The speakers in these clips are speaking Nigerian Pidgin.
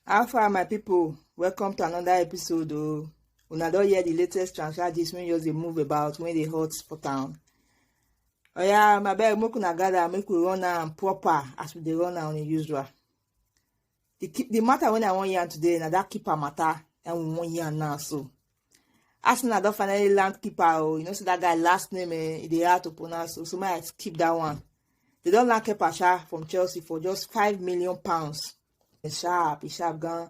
how far my people? welcome to another episode o una don hear the latest transfer gist wey just dey move about wey dey hot for town oya abeg make una gather make we run am proper as we dey run am usual the ki- the matter when I want yarn today na that keeper matter and we want yarn now so. Arsenal don finally land keeper oh you know say that guy last name eh e dey hard to pronounce so so make I skip that one. They don land keeper sha from Chelsea for just five million pounds. E sharp e sharp gan.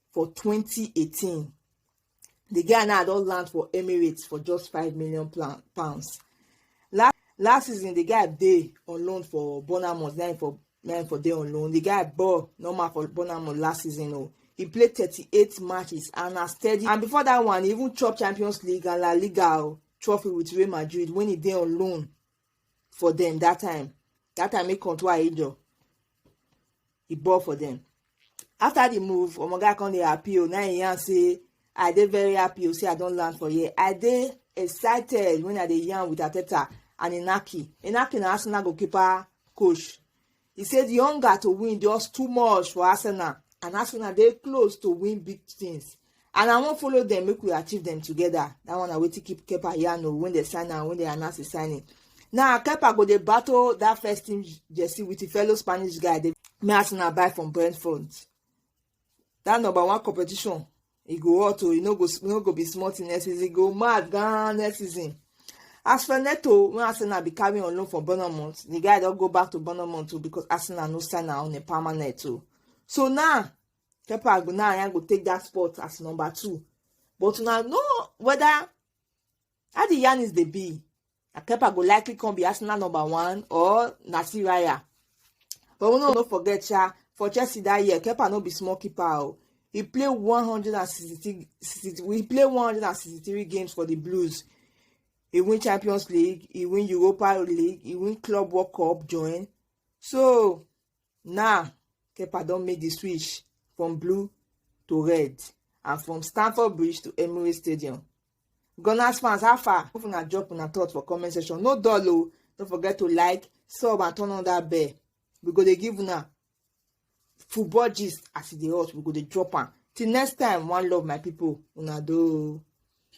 for 2018 the guy now don land for emirates for just five million pounds last last season the guy dey on loan for bournemouth na him for na him for dey on loan the guy ball normal for bournemouth last season o oh. he play thirty-eight matches and na steady and before that one he even chop champions league and la liga o oh, trophy with real madrid when he dey on loan for them that time that time he come to ayejo e ball for dem after the move omoga come dey happy o na im yarn say i dey very happy o say i don land for here i dey excited when i dey yarn with ateta and inaki inaki na arsenal goalkeeper coach he say the hunger to win just too much for arsenal and arsenal dey close to win big things and i wan follow dem make we achieve dem together that one na wetin keep kepa yarn o when dem sign am when dem announce the signing now kepa go dey battle that first team jersey with him fellow spanish guy dey me as una buy from brentford that number one competition e go hot o e no go e no go be small thing next season e go mad gan next season as for neto wey arsenal be carrying on loan for bournemouth the guy don go back to bournemouth o because arsenal no sign am on a permanent o so now Kepa Agbonaya go take that spot as number two. But now know whether how the yarn is the be. Kepa go likely come be Arsenal number one or Nasir Raya. But we no, no forget sha for Chelsea that year, Kepa no be small keeper o. Oh. He played 163 he played 163 games for the Blues. He win Champions League, he win Europa League, he win Club World Cup join. So Now, Kepa don make the switch from blue to red and from Stamford Bridge to Emirates Stadium. Gunners fans, how far? If una drop una thoughts for comment section, no dull o. Don't forget to like, sub and turn on that bell. We go dey give una football gist as e dey hot. We go dey drop am. Till next time, one love my people. Una do.